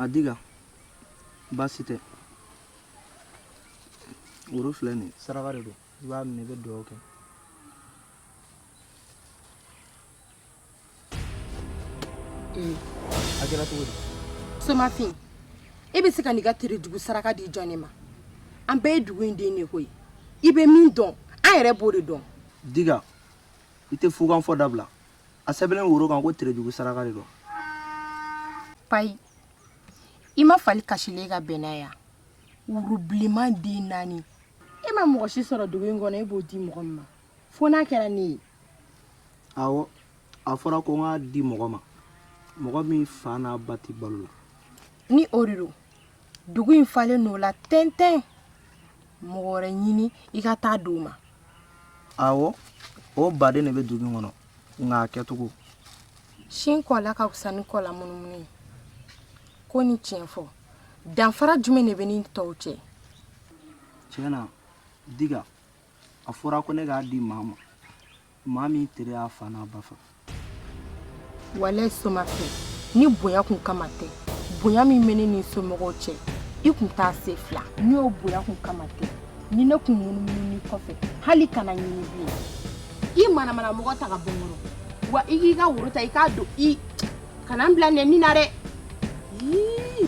adiga baasi tɛ woro filɛ nin saraka de don i b'a minɛ i bɛ dugawu kɛ A kɛra cogo somafin e bɛ se k'i ka terejugu saraka di jɔn ne ma an bɛɛ ye dugu in den de koyi i bɛ min dɔn an yɛrɛ b'o de dɔn di i tɛ fufɔ dabila a sɛbɛn woro kan ko terejugu saraka de don ba i ma fali kasilen ka bɛnna yan worobilenman den naani e ma mɔgɔ si sɔrɔ dugu in kɔnɔ e b'o di mɔgɔ ma fo n'a kɛra ne ye awɔ a fɔra ko n k'a di mɔgɔ ma mɔgɔ min fa n'a ba tɛ balo la ni o de don dugu in falen n'o la tɛntɛn mɔgɔ wɛrɛ ɲini i ka taa di o ma awɔ o baden de bɛ dugu in kɔnɔ nka a kɛcogo sin kɔ la ka fisa ni kɔ lamunumunu ye ko ni tiɲɛ fɔ danfara jumɛn de bɛ n ni tɔw cɛ tiɲɛ na diga a fɔra ko ne k'a di maa ma maa min tere y'a fa n'a ba faga walayi somafin ni bonya kun kama tɛ bonya min bɛ ne ni somɔgɔw cɛ i kun t'a se fila ni o bonya kun kama tɛ ni ne kun munumunu ni kɔfɛ hali kana ɲini bilen i manamana mɔgɔ ta ka bɔ n kɔrɔ wa i k'i ka woro ta i k'a don i kana n bila nɛni na dɛ Ii.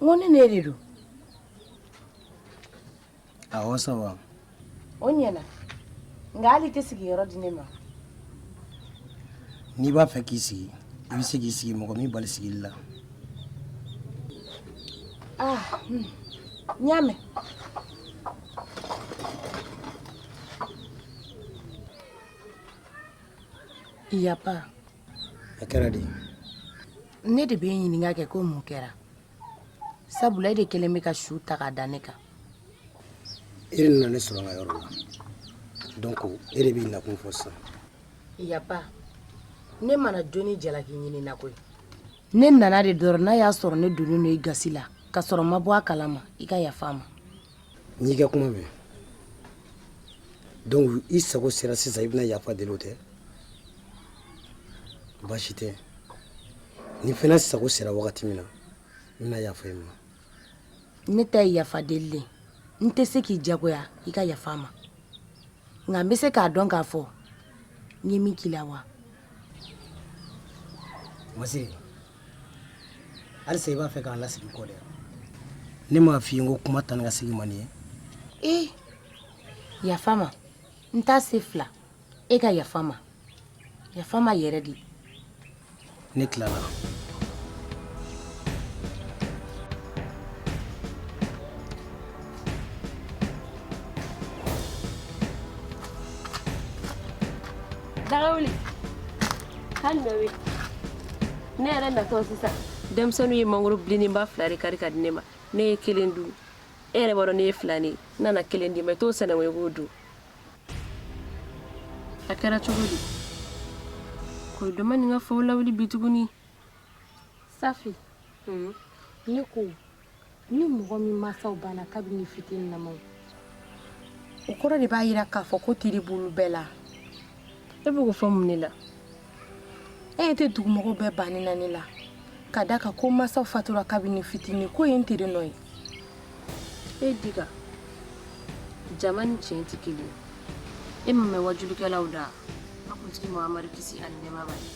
n ko ne ne de don awɔ sɔrɔ o ɲɛna nka hali i tɛ sigi yɔrɔ di ne ma n'i b'a fɛ k'i sigi i bɛ se k'i sigi mɔgɔ m'i bali sigili la ah n y'a mɛn Yapa. A kɛra de. ne de b'i ɲininka kɛ ko mun kɛra sabula e de kɛlen bɛ ka su ta k'a da ne kan e de nana ne sɔrɔ n ka yɔrɔ la donc e de b'i nakun fɔ sisan yapa ne ma na jo ni jalaki ɲini na koyi ne nana de dɔrɔn n'a y'a sɔrɔ ne donnen don i gasi la ka sɔrɔ n ma bɔ a kalama i ka yafa n ma n y'i ka kuma mɛn donc i sago sera sisan i bɛna yafa deli o tɛ baasi tɛ ne fana sago sera wagati min na n bɛna yafa i ma ne ta ye yafa deli le n tɛ se k'i jagoya i ka yafa n ma nka n bɛ se k'a dɔn k'a fɔ n ye min k'i la wa masiri halisa i b'a fɛ k'an lasegin kɔ dɛ ne m'a f'i ye n ko kuma taa ni ka segin man di n ye ee yafa n ma n t'a se fila i ka yafa n ma Yafa n ma yɛrɛ de ne tilala daga wuli hali bɛ wuli ne yɛrɛ natɔ sisan denmisɛnninw ye mangoro bilenninba fila de kari k'a di ne ma ne ye kelen dun e yɛrɛ b'a dɔn ne ye fila de ye n nana kelen d'i ma i t'o sɛnɛnko i k'o dun a kɛra cogo di ko dama nin ka faw lawuli bi tuguni safi hmm? ne ko ni mɔgɔ min masaw banna kabini fitininnama o kɔrɔ de b'a yira k'a fɔ ko tere b'olu bɛɛ la e bɛ k'o fɔ mun de la e ɲɛ tɛ dugumɔgɔw bɛɛ banni na ne la k'a da a kan ko n masaw fatura kabini fitini ko ye n tere nɔ ye e diga jama ni tiɲɛ tɛ kelen ye e m'a mɛn waajulikɛlaw da k'an kuntigi mahamadu kisi ani nɛɛma b'a ye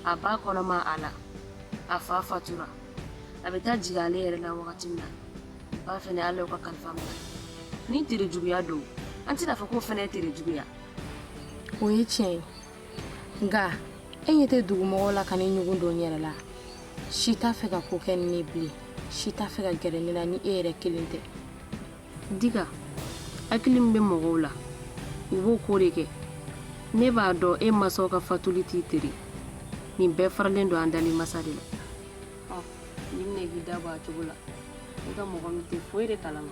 a ba kɔnɔma a la a fa fatura a bɛ taa jigin ale yɛrɛ la wagati min na a ba fɛnɛ ala y'o ka kalifa minɛ ni tere juguya don an tɛna fɔ k'o fɛnɛ ye tere juguya o ye tiɲɛ ye nka e ɲɛ tɛ dugumɔgɔw la ka ne ɲugun don n yɛrɛ la si t'a fɛ ka ko kɛ ni ne bilen si t'a fɛ ka gɛrɛ ne la ni e yɛrɛ kelen tɛ diga hakili min bɛ mɔgɔw la u b'o ko de kɛ ne b'a dɔn e masaw ka fatuli t'i tere nin bɛɛ faralen don an dali masa de la ɔn nin minɛ k'i da bɔ a cogo la i ko mɔgɔ min tɛ foyi de kalama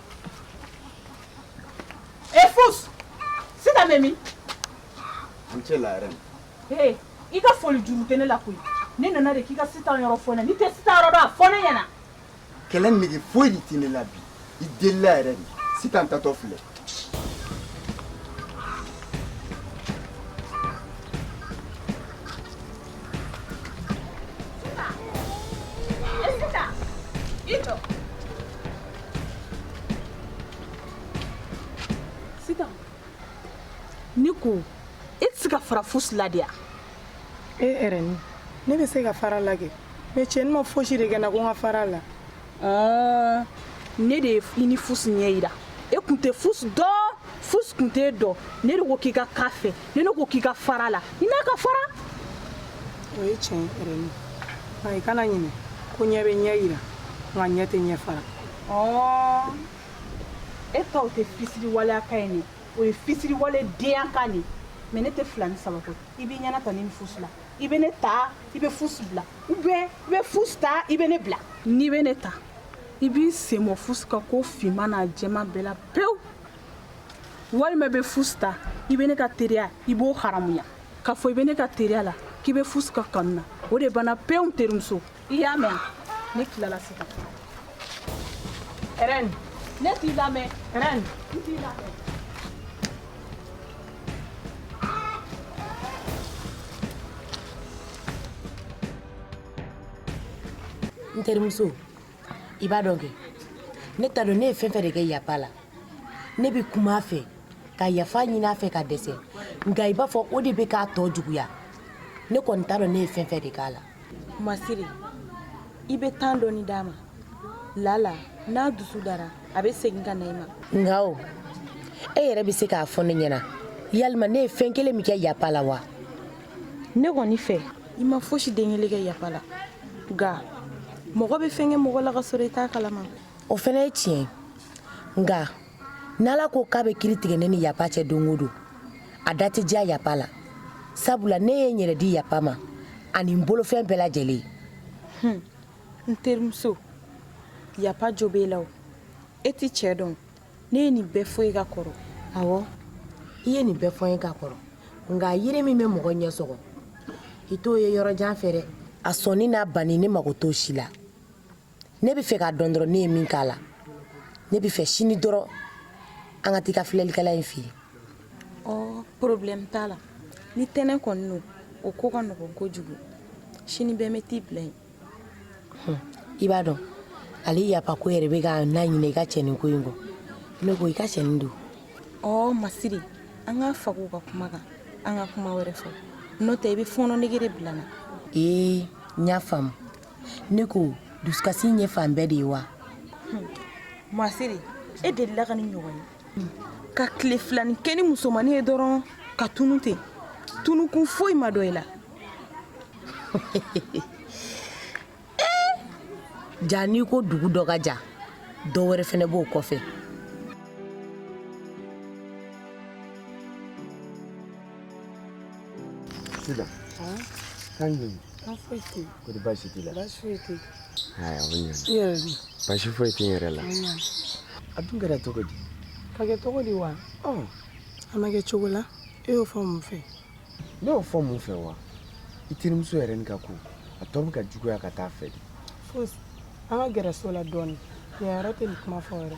E Fusu Sitan bɛ min an cɛ la Erɛni i ka foli juru tɛ ne la koyi ne nana de k'i ka Sitan yɔrɔ fɔ ne ye ne tɛ Sitan yɔrɔ dɔn a fɔ ne ɲɛna kɛlɛ nege foyi tɛ ne la bi i deli yɛrɛ de Sitan taatɔ filɛ ne ko e tɛ se ka fara Fusu la de wa. e Erɛni ne bɛ se ka fara a la kɛ mais cɛnin ma fosi de kɛ n na ko n ka fara a la. ne de ye i ni fusi ɲɛ yira e kun tɛ fusi dɔn fusi kun t'e dɔn ne de ko k'i ka k'a fɛ ne de ko k'i ka fara a la i n'a ka fara o ye tiɲɛ ye rɛmi nka i kana ɲinɛ ko ɲɛ bɛ ɲɛ yira nka ɲɛ tɛ ɲɛ fara e ta o tɛ fisiriwaleya kan ye ne o ye fisiriwale deya kan de mɛ ne tɛ fila ni saba ko i b'i ɲɛnata ne ni fusi la i bɛ ne ta i bɛ fusi bila u bɛ i bɛ fusi ta i bɛ ne bila n'i bɛ ne ta i b'i sen bɔ fusi ka ko finma n'a jɛma bɛɛ la pewu walima i bɛ fusi ta i bɛ ne ka teriya i b'o haramuya k'a fɔ i bɛ ne ka teriya la k'i bɛ fusi ka kanu na o de banna pewu terimuso i y'a mɛn ne tilala sisan rɛmi ne t'i lamɛn rɛmi n t'i lamɛn n terimuso i b'a dɔn kɛ ne t'a dɔn ne ye fɛn fɛn de kɛ yapa la ne bɛ kuma a fɛ ka yafa ɲini a fɛ ka dɛsɛ nka i b'a fɔ o de bɛ k'a tɔ juguya ne kɔni t'a dɔn ne ye fɛn fɛn de k'a la masiri i bɛ temps dɔɔni d'a ma lala n'a dusu dara a bɛ segin ka na i ma nka o e yɛrɛ bɛ se k'a fɔ ne ɲɛna yalima ne ye fɛn kelen min kɛ yapa la wa ne kɔni fɛ i ma fosi den kelen kɛ yapa la nka mɔgɔ bɛ fɛn kɛ mɔgɔ la ka sɔrɔ i t'a kalama o fana ye tiɲɛ ye nka n ala ko k'a bɛ kiri tigɛ ne ni yapa cɛ don o don a da tɛ diya yapa la sabula ne ye n yɛrɛ di yapa ma ani n bolofɛn bɛɛ lajɛlen hmm. n terimuso yapa jo b'e la o e tɛ cɛ dɔn ne ye nin bɛɛ fɔ e ye ka kɔrɔ awɔ i ye nin bɛɛ fɔ n ye ka kɔrɔ nka yiri min bɛ mɔgɔ ɲɛ sɔgɔ i t'o ye yɔrɔ jan fɛ dɛ a sɔnni n'a banni ne mago t'o si la ne bɛ fɛ k'a dɔn dɔrɔn ne ye min k'a la ne bɛ fɛ sini dɔrɔn an ka taa i ka filɛlikɛla in fɛ yen ɔ problème t'a la ni ten de kɔni don o ko ka nɔgɔn kojugu sini bɛɛ n bɛ t'i bila yen i b'a dɔn ale yapa ko yɛrɛ bɛ ka n laɲinɛ i ka cɛnin ko in kɔ ne ko i ka cɛnin dun ɔ masiri an ka faga o ka kuma kan an ka kuma wɛrɛ fɔ n'o tɛ i bɛ fɔɔnɔ nege de bila n na ee n y'a faamu ne ko dusukasi in ye fan bɛɛ de ye wa hmm. masiri e delila ka nin ɲɔgɔn ye hmm. ka tile filani kɛ ni musomannin ye dɔrɔn ka tunu ten tunukun foyi ma dɔn i la eh! jaa n'i ko dugu dɔ ka jan dɔ wɛrɛ fɛnɛ b'o kɔfɛ sisan kan ɲini ko baasi t'i la baasi foyi tɛ yen o ɲana i yɛrɛ dun baasi foyi tɛ n yɛrɛ la a dun kɛra cogo di ka kɛ cogo di wa a ma kɛ cogo la e y'o fɔ mun fɛ ne y'o fɔ mun fɛ wa i terimuso yɛrɛ nin ka ko a tɔ bɛ ka juguya ka taa fɛ de fosi an ka gɛrɛ so la dɔɔnin yan yɛrɛ tɛ nin kuma fɔyɔrɔ ye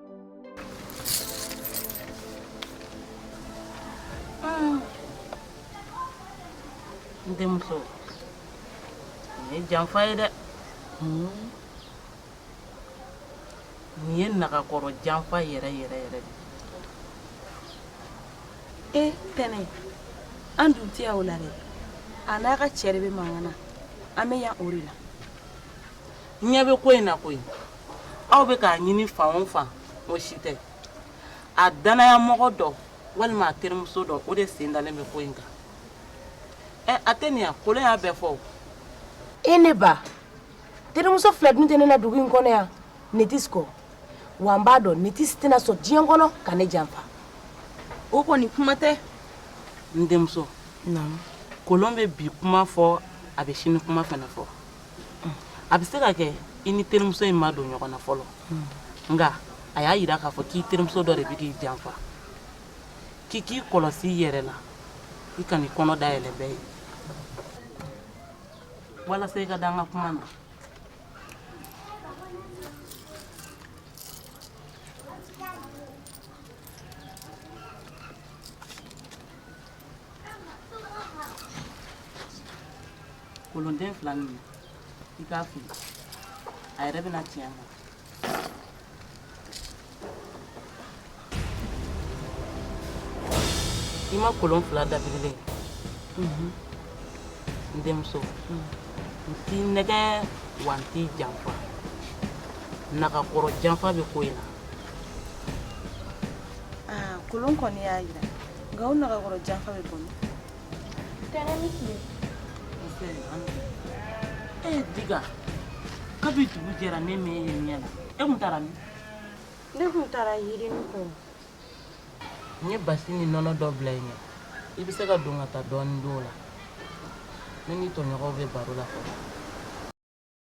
n denmuso nin ye janfa ye dɛ nin ye nagakɔrɔ janfa yɛrɛ yɛrɛ yɛrɛ de ye eh, tɛnɛ an dun tɛ yan o la dɛ a n'a ka cɛ de bɛ mankan na an bɛ yan o de la ɲɛ bɛ ko in na koyi aw bɛ k'a ɲini fan o fan o si tɛ a danayamɔgɔ dɔ walima a terimuso dɔ o de sen dalen bɛ ko in kan ɛ a tɛ nin ya kolon y'a bɛɛ fɔ e ne ba terimuso fila dun tɛ ne na dugu in kɔnɔ yan netisi kɔ wa n b'a dɔn netisi tɛna sɔn diɲɛ kɔnɔ ka ne janfa o kɔni kuma tɛ n denmuso kolon bɛ bi kuma fɔ a bɛ sini kuma fana fɔ a bɛ se ka kɛ i ni terimuso in ma don ɲɔgɔn na fɔlɔ nka a y'a jira k'a fɔ k'i terimuso dɔ de bɛ k'i janfa k'i k'i kɔlɔsi i yɛrɛ la i kan'i kɔnɔ dayɛlɛ bɛɛ ye walasa i ka da n ka kuma na Kolonden fila minɛ i k'a fili a yɛrɛ bɛ na tiɲɛ ma i ma kolon fila dabirilen n denmuso n t'i nɛgɛn wa n t'i janfa nagakɔrɔ janfa bɛ ko in na kolon kɔni y'a jira nka o nagakɔrɔ janfa bɛ bɔ min tɛnɛ i ni tile e ye diga kabi dugu jɛra ne m'e ye ɲɛ la e tun taara min ne tun taara yirini kɔ n ye basi ni nɔnɔ dɔ bila i ɲɛ i bɛ se ka don ka taa dɔɔnin don o la ne ni tɔɲɔgɔnw bɛ baro la fɔlɔ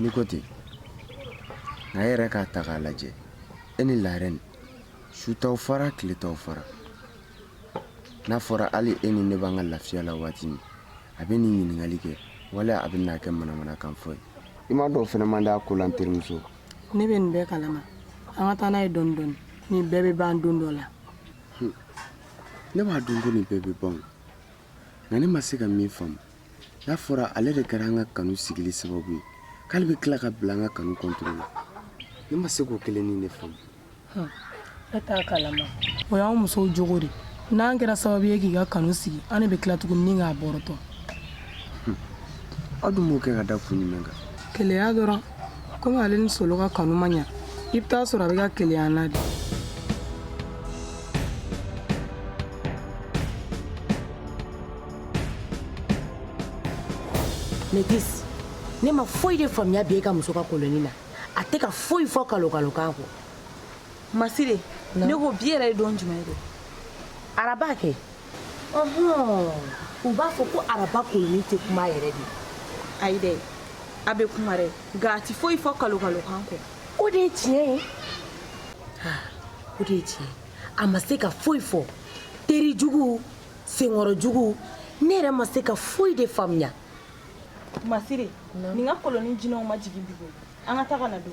Ni ko ten nka e yɛrɛ k'a ta k'a lajɛ e ni laarɛn su t'aw fara tile t'aw fara n'a fɔra hali e ni ne b'an ka lafiya la waati min a bɛ nin ɲininkali kɛ wala a bɛ n'a kɛ manamanakan fɔ ye i m'a dɔn fɛnɛ man d'a ko la n terimuso ne bɛ nin bɛɛ kalama an ka taa n'a ye dɔɔni dɔɔni nin bɛɛ bɛ ban don dɔ la ne b'a dɔn ko nin bɛɛ bɛ ban o, nka ne ma se ka min faamu N'a fɔra ale de kɛra an ka kanu sigili sababu ye k'ale bɛ tila ka bila an ka kanu kɔntiri la ne ma se k'o kelen nin de faamu e t'a kalama o y'an musow cogo de n'an kɛra sababu ye k'i ka kanu sigi an bɛ tila tuguni k'a bɔrɔtɔ aw dun b'o kɛ ka da kun jumɛn kan keleya dɔrɔn komi ale ni solo ka kanu ma ɲɛ i bɛ taa sɔrɔ a bɛ ka keleya na de ne tɛ ne ma foyi de faamuya bi e ka muso ka kolonin na a tɛ ka foyi fɔ kalokalokan kɔ masire ne ko bi yɛrɛ ye don jumɛn ye araba kɛ u b'a fɔ ko araba kolonin tɛ kuma yɛrɛ de ayi dɛ a bɛ kuma dɛ nka a tɛ foyi fɔ kalokalokan kɔ o de ye tiɲɛ ye o de ye tiɲɛ a ma se ka foyi fɔ teri jugu senkɔrɔjugu ne yɛrɛ ma se ka foyi de faamuya masiri nin ka kolonin jinɛw ma jigin bi koyi an ka taa ka na don